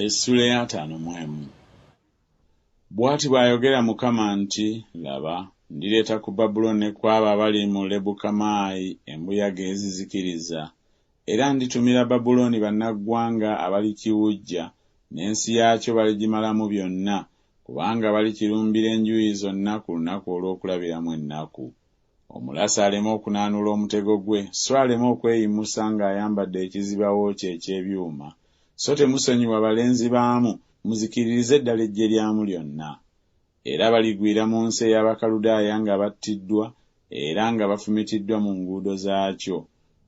Essula ey'ataano mu emu. Bw'ati bw'ayogera Mukama nti, Laba, ndireeta ku Babulooni ne ku abo abali mu Lebukamaayi embuyaga ezizikiriza, era nditumira Babulooni bannaggwanga abalikiwujja, n'ensi yaakyo baligimalamu byonna, kubanga balikirumbira enjuuyi zonna ku lunaku olw'okulabiramu ennaku. Omulaasi aleme okunaanula omutego gwe, so aleme okweyimusa nga ayambadde ekizibawo kye eky'ebyuma, so temusonyiwa balenzi baamu, muzikiririze ddala eggye lyamu lyonna. Era baligwira mu nsi ey'Abakaludaaya nga battiddwa era nga bafumitiddwa mu nguudo zaakyo,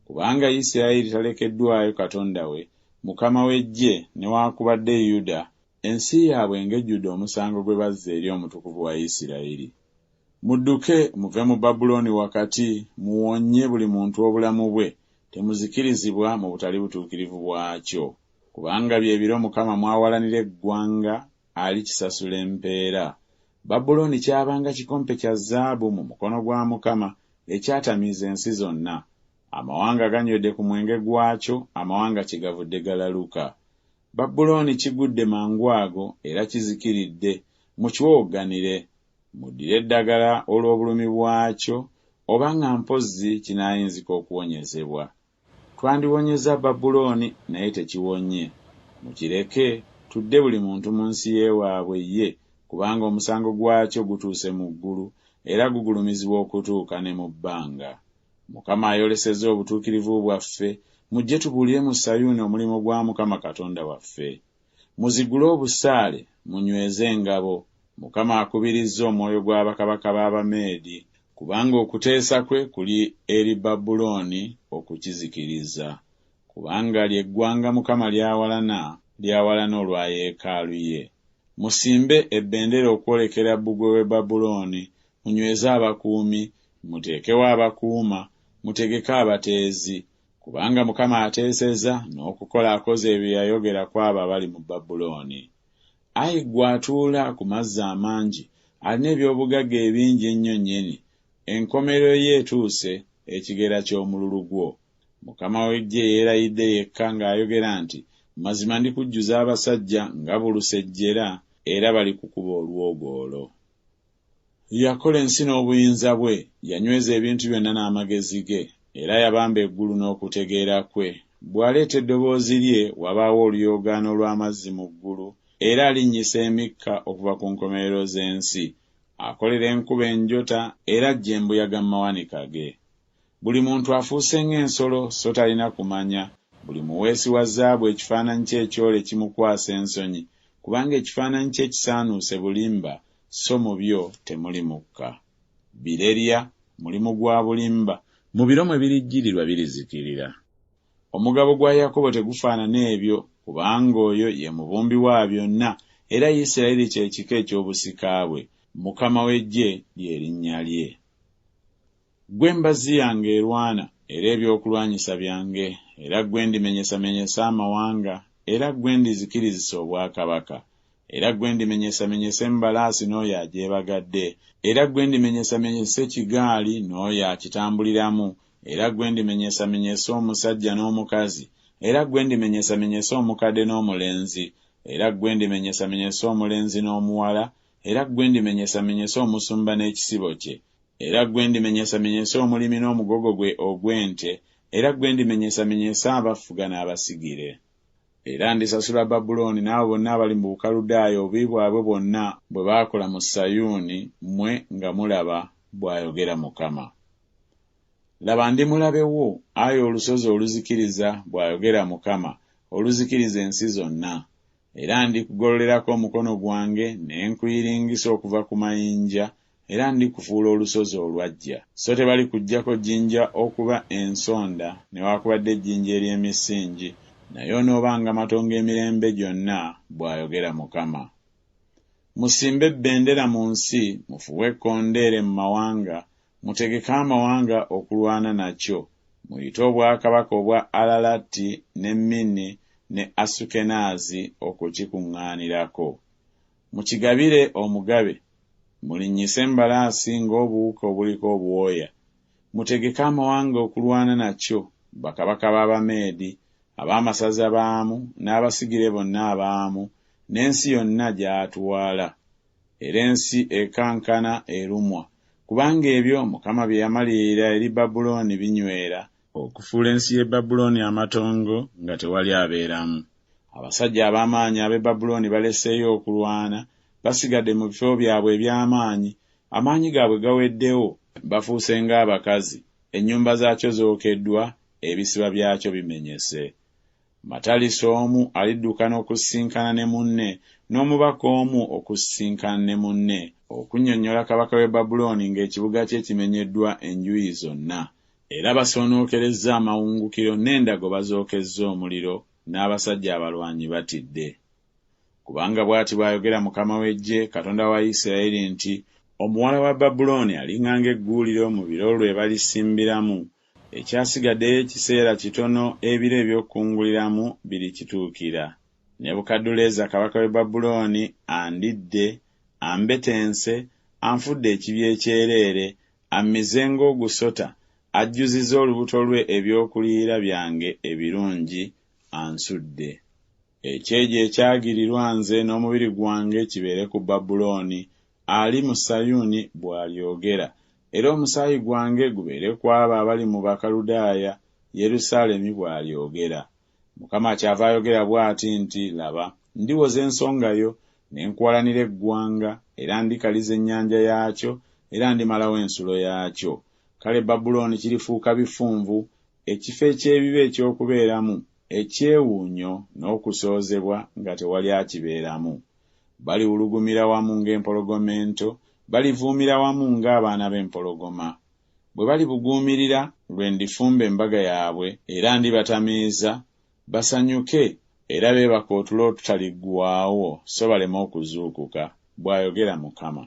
kubanga Yisirayiri talekeddwayo Katonda we, Mukama w'eggye, newaakubadde Yuda, ensi yaabwe ng'ejjudde omusango gwe bazza eri Omutukuvu wa Yisirayiri. Mudduke muve mu Babulooni wakati, muwonye buli muntu obulamu bwe, temuzikirizibwa mu butali butuukirivu bwakyo. Kubanga bye biro Mukama mw'awalanira eggwanga, alikisasula empeera. Babulooni kyabanga kikompe kya zaabu mu mukono gwa Mukama, ekyatamiiza ensi zonna. Amawanga ganywedde ku mwenge gwakyo, amawanga kyegavudde galaluka. Babulooni kigudde mangwago era kizikiridde, mukiwowogganire, Muddire eddagala olw'obulumi bwakyo oba nga mpozzi kinaayinzika okuwonyezebwa. Twandiwonyezza Babulooni, naye tekiwonye. Mukireke, tudde buli muntu mu nsi y'ewaabwe ye, kubanga omusango gwakyo gutuuse mu ggulu, era gugulumizibwa okutuuka ne mu bbanga. Mukama ayolesezza obutuukirivu bwaffe, mujje tubuulire mu Sayuuni omulimu gwa Mukama Katonda waffe. Muzigule obusaale, munyweze engabo. Mukama akubirizza omwoyo gwa bakabaka b'Abameedi, kubanga okuteesa kwe kuli eri Babulooni okukizikiriza. Kubanga lye ggwanga Mukama ly'awalana, ly'awalana olwa yeekaalu ye. Musimbe ebendera okwolekera bbugwe w'e Babulooni, munyweze abakuumi, muteekewo abakuuma, mutegeke abateezi, Kubanga Mukama ateeseza, n'okukola akoze ebyo yayogera ku abo abali mu Babulooni. Ayi ggwe atuula ku mazzi amangi, alina eby'obugagga ebingi ennyo nnyini, enkomerero ye etuuse, ekigera ky'omululu gwo. Mukama w'Eggye yeerayidde yekka ng'ayogera nti, Mazima ndikujjuza abasajja nga bulusejjera, era balikukuba olwogoolo. Yakola ensi n'obuyinza bwe, yanyweza ebintu byonna n'amagezi ge, era yabamba eggulu n'okutegeera kwe. Bw'aleeta eddoboozi lye, wabaawo oluyoogaano lw'amazzi mu ggulu, era alinnyisa emikka okuva ku nkomerero z'ensi. Akolera enkuba enjota, era aggya embuyaga mu mawanika ge. Buli muntu afuuse ng'ensolo, so talina kumanya. Buli muweesi wa zaabu ekifaananyi kye ekyole kimukwasa ensonyi, kubanga ekifaananyi kye kisaanuuse bulimba, so mu byo temuli mukka. Birerya, mulimu gwa bulimba. Mu biro mwe birijjirirwa birizikirira. Omugabo gwa Yakobo tegufaanana ebyo, kubanga oyo ye mubumbi wa byonna, era Yisirayiri kye kika eky'obusika bwe, Mukama w'eggye lye linnya lye. Ggwe mbazzi yange erwana, era ebyokulwanyisa byange, era ggwe ndimenyesamenyesa amawanga, era ggwe ndizikirizisa obwakabaka, era ggwe ndimenyesamenyesa embalaasi n'oyo agyebagadde, era ggwe ndimenyesamenyesa ekigaali n'oyo akitambuliramu, era ggwe ndimenyesamenyesa omusajja n'omukazi, era ggwe ndimenyesamenyesa omukadde n'omulenzi, era ggwe ndimenyesamenyesa omulenzi n'omuwala, era ggwe ndimenyesamenyesa omusumba n'ekisibo kye, Era ggwe ndimenyesamenyesa omulimi n'omugogo gwe ogw'ente, era ggwe ndimenyesamenyesa abafuga n'abasigire. Era ndisasula Babulooni n'abo bonna abali mu Bukaludaaya obubi bwabwe bwonna bwe baakola mu Sayuuni, mmwe nga mulaba, bw'ayogera Mukama. Laba, ndi mulabe wo, ayi olusozi oluzikiriza, bw'ayogera Mukama, oluzikiriza ensi zonna. Era ndikugololerako omukono gwange, ne nkuyiringisa okuva ku mayinja, era ndikufuula olusozi olwaggya. Sso tebalikuggyako jjinja okuba ensonda newaakubadde ejjinja ery'emisingi, naye onoobanga matongo emirembe gyonna, bw'ayogera Mukama. Musimbe bbendera mu nsi, mufuuwe ekkondeere mu mawanga, mutegeke amawanga okulwana nakyo, muyite obwakabaka obwa Alalati ne Mini ne Asukenaazi okukikuŋŋaanirako. Mukigabire omugabe, mulinnyise embalaasi ng'obuwuka obuliko obwoya, mutegeke amawanga okulwana nakyo, bakabaka b'Abameedi, ab'amasaza baamu, n'abasigire bonna abaamu, n'ensi yonna gy'atwala. Era ensi ekankana erumwa, kubanga ebyo Mukama bye yamalirira eri Babulooni binywera, Okufuula ensi y'e Babulooni amatongo nga tewali abeeramu. Abasajja ab'amaanyi ab'e Babulooni baleseeyo okulwana, basigadde mu bifo byabwe eby'amaanyi, amaanyi gaabwe gaweddewo, bafuuse ng'abakazi, ennyumba zaakyo zookeddwa, ebisiba byakyo bimenyese. Matalisi omu aliddukana okusisinkana ne munne, n'omubaka omu okusisinkana ne munne, okunnyonnyola kabaka w'e Babulooni ng'ekibuga kye kimenyeddwa enjuyi zonna, Era basoonookerezza amawungukiro n'endago bazookezza omuliro n'abasajja abalwanyi batidde. Kubanga bw'ati bw'ayogera Mukama w'eggye, Katonda wa Yisirayeli nti, Omuwala wa Babulooni alinga ng'egguuliro mu biro lwe balisimbiramu, ekyasigaddeyo ekiseera kitono ebiro eby'okukunguliramu birikituukira. Nebukadduleeza kabaka w'e Babulooni andidde, ambetense, anfudde ekibya ekyereere, ammize ng'ogusota, ajjuzizza olubuto lwe eby'okuliira byange ebirungi, ansudde. Ekyejo ekyagirirwa nze n'omubiri gwange kibeere ku Babulooni, ali mu Sayuuni, bw'alyogera, era omusaayi gwange gubeere ku abo abali mu Bakaludaaya, Yerusaalemi bw'alyogera. Mukama kyava ayogera bw'ati nti, Laba, ndiwoza ensonga yo, ne nkuwalanira eggwanga, era ndikaliza ennyanja yaakyo, era ndimalawo ensulo yaakyo. Kale Babulooni kirifuuka bifunvu, ekifo eky'ebibi eky'okubeeramu, ekyewuunyo n'okusoozebwa, nga tewali akibeeramu. Baliwulugumira wamu ng'empologoma ento, balivuumira wamu ng'abaana b'empologoma. bwe balibuguumirira, lwe ndifumba embaga yaabwe era ndibatamiiza, basanyuke era beebake otulo otutaliggwaawo so baleme okuzuukuka, bw'ayogera Mukama.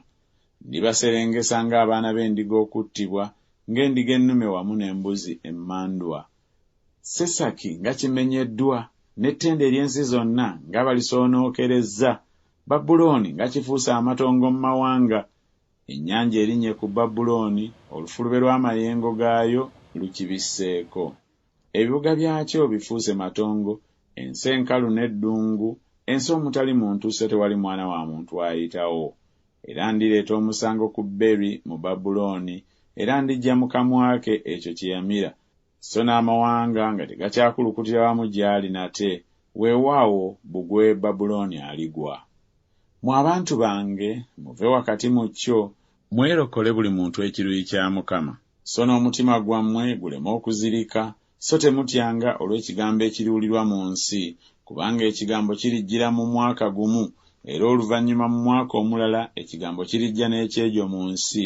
Ndibaserengesa ng'abaana b'endiga okuttibwa, ng'endiga ennume wamu n'embuzi emmandwa. Sesaki nga kimenyeddwa, n'ettendo ery'ensi zonna nga balisoonookerezza! Babulooni nga kifuuse amatongo mu mawanga, Ennyanja erinnye ku Babulooni, olufulube lw'amayengo gaayo lukibisseeko. Ebibuga byakyo bifuuse matongo, ensi enkalu n'eddungu, ensi omutali muntu so tewali mwana wa muntu ayitawo. Era ndireeta omusango ku Beri mu Babulooni, era ndiggya mu kamwa ke ekyo kye yamira, Sso n'amawanga nga tegakyakulukutira wamu gy'ali nate, weewaawo, bbugwe Babulooni aligwa. Mmwe abantu bange, muve wakati mu kyo. Mwerokole buli muntu ekiruyi kya Mukama, sso n'omutima gwammwe guleme okuzirika, sso temutyanga olw'ekigambo ekiriwulirwa mu nsi, kubanga ekigambo kirijjira mu mwaka gumu, era oluvannyuma mu mwaka omulala ekigambo kirijja n'ekyejo mu nsi,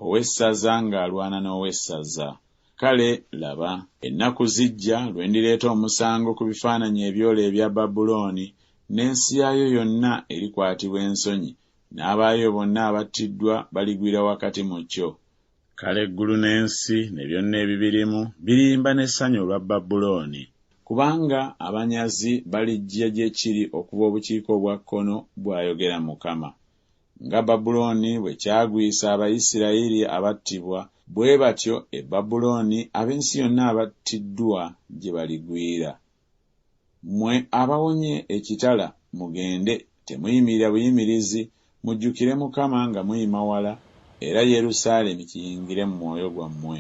ow'essaza ng'alwana n'ow'essaza. Kale laba, ennaku zijja lwe ndireeta omusango ku bifaananyi ebyoole ebya Babulooni, n'ensi yaayo yonna erikwatibwa ensonyi, n'abaayo bonna abattiddwa baligwira wakati mu kyo. Kale eggulu n'ensi ne byonna ebibirimu biriyimba n'essanyu olwa Babulooni. Kubanga abanyazi balijja gye kiri okuva obukiika obwa kkono, bw'ayogera Mukama. Nga Babulooni bwe kyagwisa Abayisirayiri abattibwa, bwe batyo e Babulooni ab'ensi yonna abattiddwa gye baligwira. Mmwe abawonye ekitala, mugende, temuyimirira buyimirizi, mujjukire Mukama nga muyima wala, era Yerusaalemi kiyingire mu mwoyo gwammwe.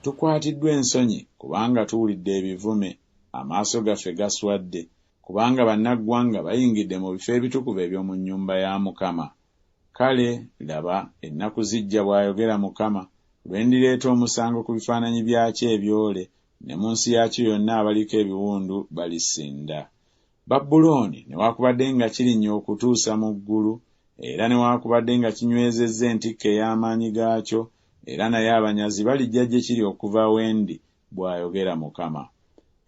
Tukwatiddwa ensonyi kubanga tuwulidde ebivume, amaaso gaffe gaswadde, kubanga bannaggwanga bayingidde mu bifo ebitukuvu eby'omu nnyumba ya Mukama. Kale laba, ennaku zijja, bw'ayogera Mukama, lwe ndireeta omusango ku bifaananyi byakyo ebyole, ne mu nsi yaakyo yonna abaliko ebiwundu balisinda. Babulooni, newaakubadde nga kirinnya okutuusa mu ggulu, era newaakubadde nga kinywezezza entikko ey'amaanyi gaakyo, era naye abanyazi balijja gye kiri okuva we ndi, bw'ayogera Mukama.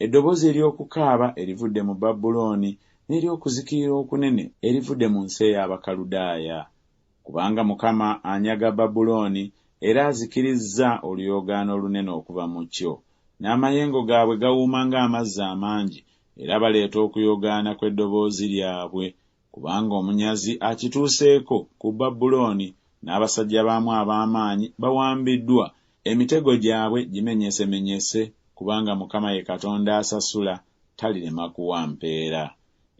Eddoboozi ery'okukaaba erivudde mu Babulooni n'ery'okuzikirira okunene erivudde mu nsi ey'Abakaludaaya. Kubanga Mukama anyaga Babulooni era azikirizza oluyoogaano olunene okuva mu kyo. N'amayengo gaabwe gawuuma ng'amazzi amangi, era baleeta okuyogaana kw'eddoboozi lyabwe Kubanga omunyazi akituuseeko, ku Babulooni n'abasajja baamu ab'amaanyi bawambiddwa, emitego gyabwe gimenyesemenyese, kubanga Mukama ye Katonda asasula, talirema kuwa mpeera.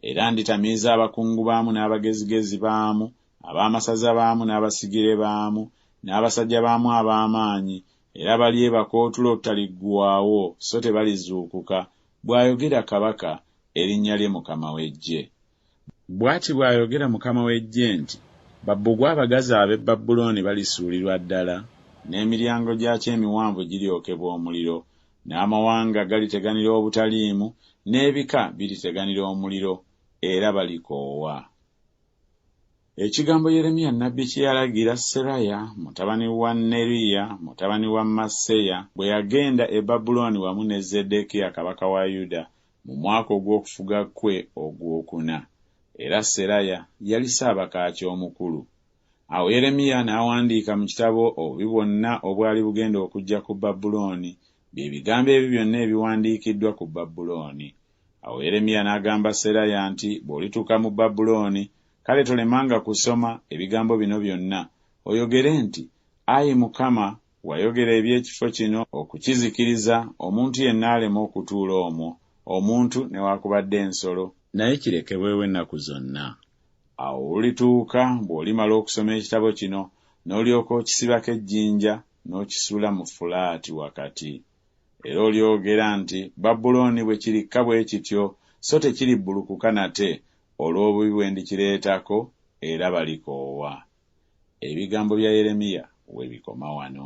Era nditamiiza abakungu baamu n'abagezigezi baamu, ab'amasaza baamu n'abasigire baamu, n'abasajja baamu ab'amaanyi, era balyebaka otulo olutaliggwaawo, so tebalizuukuka, bw'ayogera Kabaka, erinnya lye Mukama w'Eggye. Bw'ati bw'ayogera Mukama w'eggye nti, Babbugwe abagazi ab'e Babulooni balisuulirwa ddala, n'emiryango gyakyo emiwanvu giryokebwa omuliro, n'amawanga galiteganira obutaliimu, n'ebika biriteganira omuliro, era balikoowa. Ekigambo Yeremiya nnabbi kye yalagira Seraya mutabani wa Neriya mutabani wa Maaseya bwe yagenda e Babulooni wamu ne Zeddeekiya kabaka wa Yuda mu mwaka ogw'okufuga kwe ogwokuna, era Seraya yali ssaabakaaki omukulu. Awo Yeremiya n'awandiika mu kitabo obubi bwonna obwali bugenda okujja ku Babulooni, bye bigambo ebyo byonna ebiwandiikiddwa ku Babulooni. Awo Yeremiya n'agamba Seraya nti, Bw'olituuka mu Babulooni, kale tolemanga kusoma, ebigambo bino byonna, oyogere nti, Ayi Mukama, Wayogera eby'ekifo kino okukizikiriza, omuntu yenna aleme okutuula omwo, omuntu newakubadde ensolo. Naye kirekebwewo ennaku zonna. Awo olulituuka bw'olimala okusoma ekitabo kino, n'olyoka okisibako ejjinja n'okisuula mu Fulaati wakati. Era olyogera nti, Babulooni bwe kirikka bwe kityo, so tekiribbulukuka nate, olw'obubi bwe ndikireetako, era balikoowa. Ebigambo bya Yeremiya we bikoma wano.